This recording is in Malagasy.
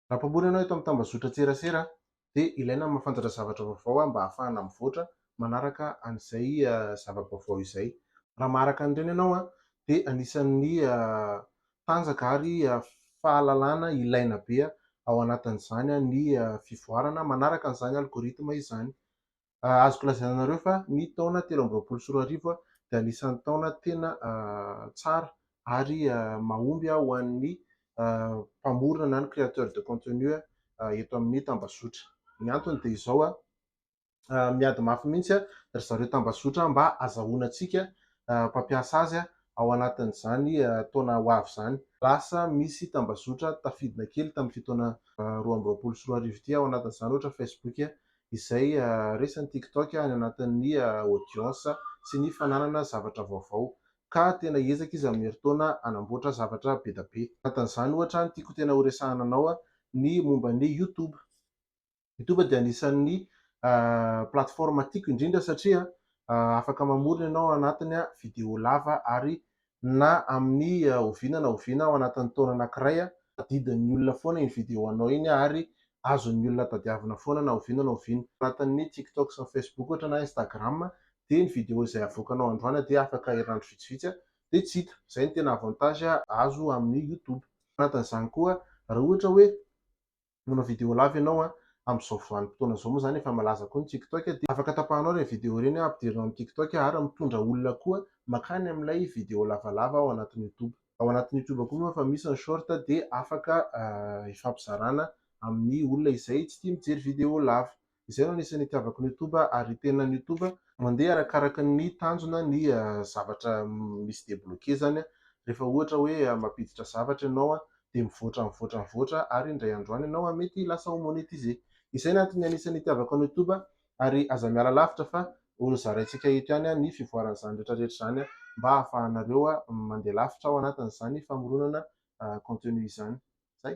Raha mpamboly ianao eto amin'ny tambazotran-tserasera dia ilaina ny mahafantatra zavatra vaovao mba hahafahana mivoatra manaraka an'izay zava-baovao izay. Raha maharaka an'ireny ianao dia anisan'ny tanjaka ary fahalalana ilaina be ao anatin'izany ny fivoarana manaraka an'izany algorithme izany. azoko lazaina anareo fa ny taona telo amby roapolo sy roa arivo dia anisan'ny taona tena tsara ary mahomby ho an'ny mpamorona na ny créateur de contenu eto amin'ny tambazotra. Ny antony dia izao, miady mafy mihitsy ry zareo tambazotra mba hazahoana antsika mpampiasa azy ao anatin'izany taona ho avy izany. Lasa misy tambazotra tafidina kely tamin'ity taona roa amby roapolo sy roa arivo ity ao anatin'izany, ohatra, Facebook, izay resan'ny TikTok any anatin'ny audience sy ny fananana zavatra vaovao, ka tena hiezaka izy amin'ny herintaona hanamboatra zavatra be da be. Anatin'izany ohatra ny tiako tena horesahana anao ny momba ny YouTube. YouTube dia anisan'ny plateforme tiako indrindra satria afaka mamory ny anao anatiny video lava ary na amin'ny oviana na oviana ao anatin'ny taona anankiray, tadidin'ny olona foana iny video anao iny ary azon'ny olona tadiavina foana na oviana na oviana. Ao anatin'ny TikTok sy ny Facebook ohatra na Instagram dia ny video izay avoakanao androany dia afaka herinandro vitsivitsy dia tsy hita. Izay no tena avantage azo amin'ny YouTube. Ao anatin'izany koa raha ohatra hoe manao vidéo lava ianao a, amin'izao vanim-potoana izao moa izany efa malaza koa ny tiktok dia afaka tapahanao ireny vidéo ireny a, ampidirinao amin'ny tiktok ary mitondra olona koa makany amin'ilay vidéo lavalava ao anatin'ny youtube. Ao anatin'ny youtube koa moa efa misy ny short dia afaka hifampizarana amin'ny olona izay tsy tia mijery vidéo lava. Izay no anisan'ny itiavako ny youtube ary tena ny youtube mandeha arakaraka ny tanjona ny zavatra misy debloquer zany rehefa ohatra hoe mampiditra zavatra ianao dia mivoatra mivoatra mivoatra ary indray andro any ianao mety lasa ho monetiser. Izay no antony anisan'ny itiavako ny youtube ary aza miala lavitra fa ho zaraintsika eto ihany ny fivoaran'izany rehetra rehetra izany mba hahafahanareo mandeha lavitra ao anatin'izany famoronana contenu izany. Zay.